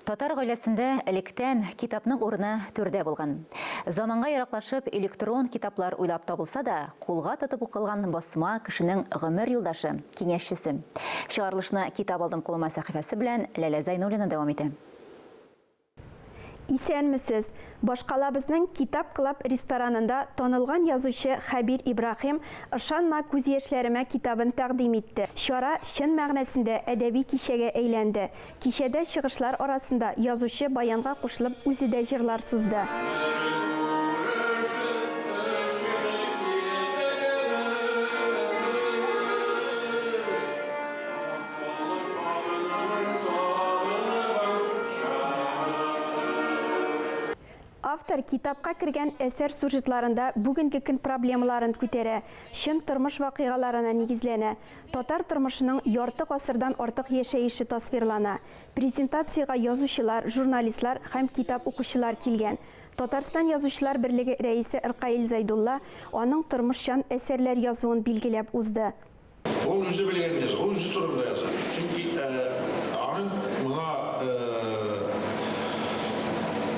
Татар гаиләсендә электән китапның урыны түрдә булган. Заманга ераклашып, электрон китаплар уйлап табылса да, кулга тотып укылган басма кешенең гомер юлдашы, киңәшчесе. Чыгарылышны Китап алдым кулыма сәхифәсе белән Ләлә Зәйнуллина дәвам итә. Исәнмесез! Башкалабызның Китап Клаб ресторанында танылган язучы Хәбир Ибраһим Ышанма күз яшьләремә китабын тәкъдим итте. Чара чын мәгънәсендә әдәби кичәгә әйләнде. Кичәдә чыгышлар арасында язучы баянга кушылып үзе дә җырлар сузды. Автор китапка кергән әсәр сюжетларында бүгенге көн проблемаларын күтәрә, чын тормыш вакыйгаларына нигезләнә. Татар тормышының ярты гасырдан артык яшәеше тасвирлана. Презентациягә язучылар, журналистлар һәм китап укучылар килгән. Татарстан Язучылар берлеге рәисе Ркаил Зәйдулла аның тормышчан әсәрләр язуын билгеләп узды. Ул үзе белгәнне яза, ул үзе турында яза. Чөнки аның моңа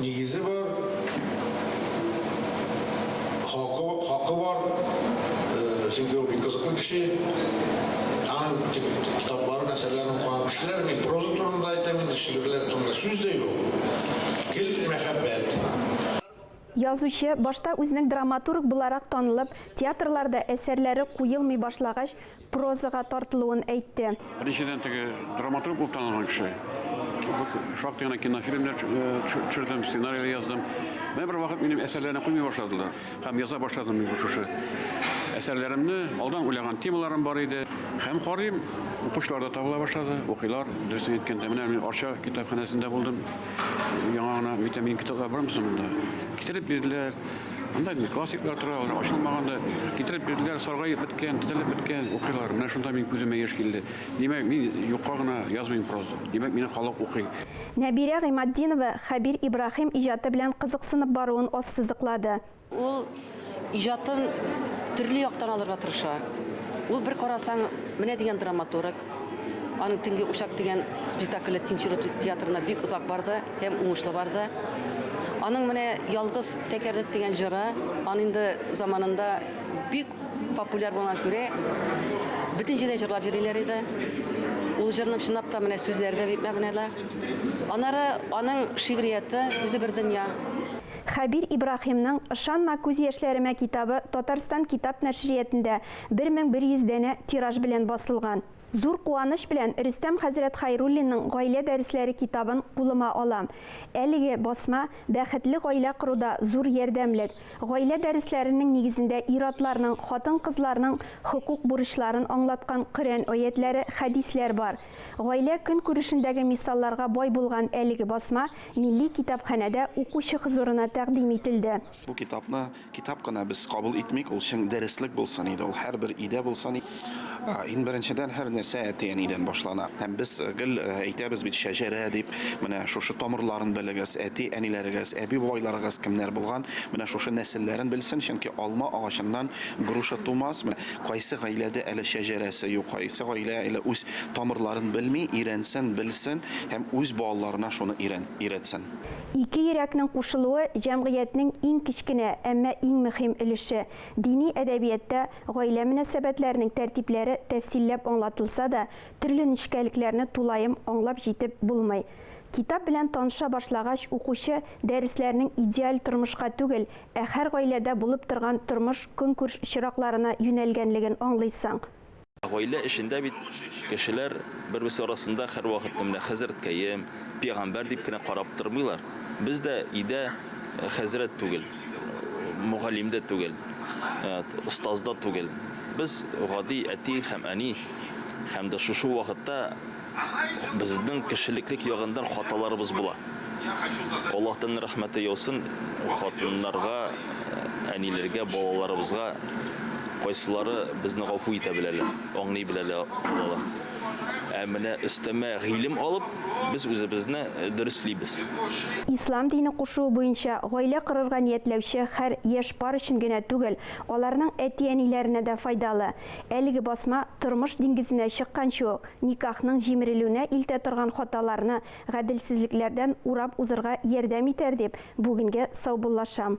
нигезе бар. Хакы, хакы бар, чөнки ул бик кызыклы кеше. Аның китаплары, әсәрләрен укыган кешеләр, мин проза турында әйтәм, инде шигырьләр турында сүз дә юк. Гел мәхәббәт. Язучы, башта үзенең драматург буларак танылып, театрларда әсәрләре куелмый башлагач, прозага тартылуын әйтте. Беренчедән, теге драматург булып танылган кеше. Шактый гына кинофильмнар төшердем, э, сценарийлар яздым. Менә бер вакыт минем әсәрләрне куймый башладылар. Һәм яза башладым мин шушы әсәрләремне. Алдан уйлаган темаларым бар иде. Һәм карыйм, укучылар да табыла башлады, укыйлар. Дөресен әйткәндә, менә мин Арча китапханәсендә булдым. Яңа гына витамин китаплар бармы соң монда? Китереп бирделәр. Анда инде классиклар тора, алар ачылмаган да. Китереп бирделәр, саргаеп беткән, тезелеп беткән, укыйлар. Менә шунда мин күземә яшь килде. Димәк, мин юкка гына язмыйм проза. Димәк, мине халык укый. Нәбирә Гыйматдинова Хәбир Ибраһим иҗаты белән кызыксынып баруын ассызыклады. Ул иҗатын төрле яктан алырга тырыша. Ул, бер карасаң, менә дигән драматург, Аның Төнге учак дигән спектакле Тинчурут театрына бик озак барды һәм уңышлы барды. Аның менә Ялгыз тәкәрлек дигән җыры, аны инде заманында бик популяр булган күрә, бөтен җирдә җырлап йөриләр иде. Ул җырның чынлап та менә сүзләре дә бик мәгънәле. Аннары аның шигърияте үзе бер дөнья. Хәбир Ибраһимның Ышанма күз яшьләремә китабы Татарстан китап нәшриятендә 1100 данә тираж белән басылган. Зур куаныч белән Рөстәм хәзрәт Хәйруллинның Гаилә дәресләре китабын кулыма алам. Әлеге басма бәхетле гаилә коруда зур ярдәмлек. Гаилә дәресләренең нигезендә ир-атларның, хатын-кызларның хокук-бурычларын аңлаткан Коръән аятьләре, хәдисләр бар. Гаилә көнкүрешендәге мисалларга бай булган әлеге басма Милли китапханәдә укучы хозурына тәкъдим ителде. Бу китапны Китап кына без кабул итмик, ул чын дәреслек булсын иде, ул һәрбер өйдә булсын иде. Иң беренчедән һәр нәрсә әти-әнидән башлана. Һәм без э, гел э, әйтәбез бит шәҗәрә дип, менә шушы тамырларын белегез, әти-әниләрегез, әби-бабайларыгыз кемнәр булган, менә шушы нәселләрен белсен, чөнки алма агачыннан груша тумас. Менә кайсы гаиләдә әле шәҗәрәсе юк, кайсы гаилә әле үз тамырларын белми, өйрәнсен, белсен һәм үз балаларына шуны өйрәтсен. Ике йөрәкнең кушылуы җәмгыятьнең иң кечкенә, әмма иң мөһим өлеше. Дини әдәбиятта гаилә мөнәсәбәтләренең тәртипләре тәфсилләп аңлатылса да, төрле нечкәлекләрне тулаем аңлап җитеп булмый. Китап белән таныша башлагач, укучы дәресләрнең идеаль тормышка түгел, ә һәр гаиләдә булып торган тормыш-көнкүрш чиракларына юнәлгәнлеген аңлыйсың. Гаилә эчендә бит кешеләр бер-берсе арасында һәрвакытны менә хәзрәткәем, пигамбәр дип кенә карап тормыйлар. Без дә өйдә хәзрәт түгел, мөгаллим дә түгел, остаз да түгел. Без гади әти һәм әни һәм дә шушы вакытта Безнең кешелеклек ягындан хаталарыбыз була. Аллаһтан рәхмәте яусын, хатыннарга, әниләргә, балаларыбызга кайсылары безне гафу итә беләләр, аңлый беләләр алалар. Ә менә өстәмә гыйлем алып, без үзебезне дөреслибез. Ислам дине кушуы буенча, гаилә корырга ниятләүче хәр яшь пар өчен генә түгел, аларның әти-әниләренә дә файдалы. Әлеге басма тормыш диңгезенә чыкканчы ук, никахның җимерелүенә илтә торган хаталарны, гаделсезлекләрдән урап узырга ярдәм итәр дип, бүгенгә саубуллашам.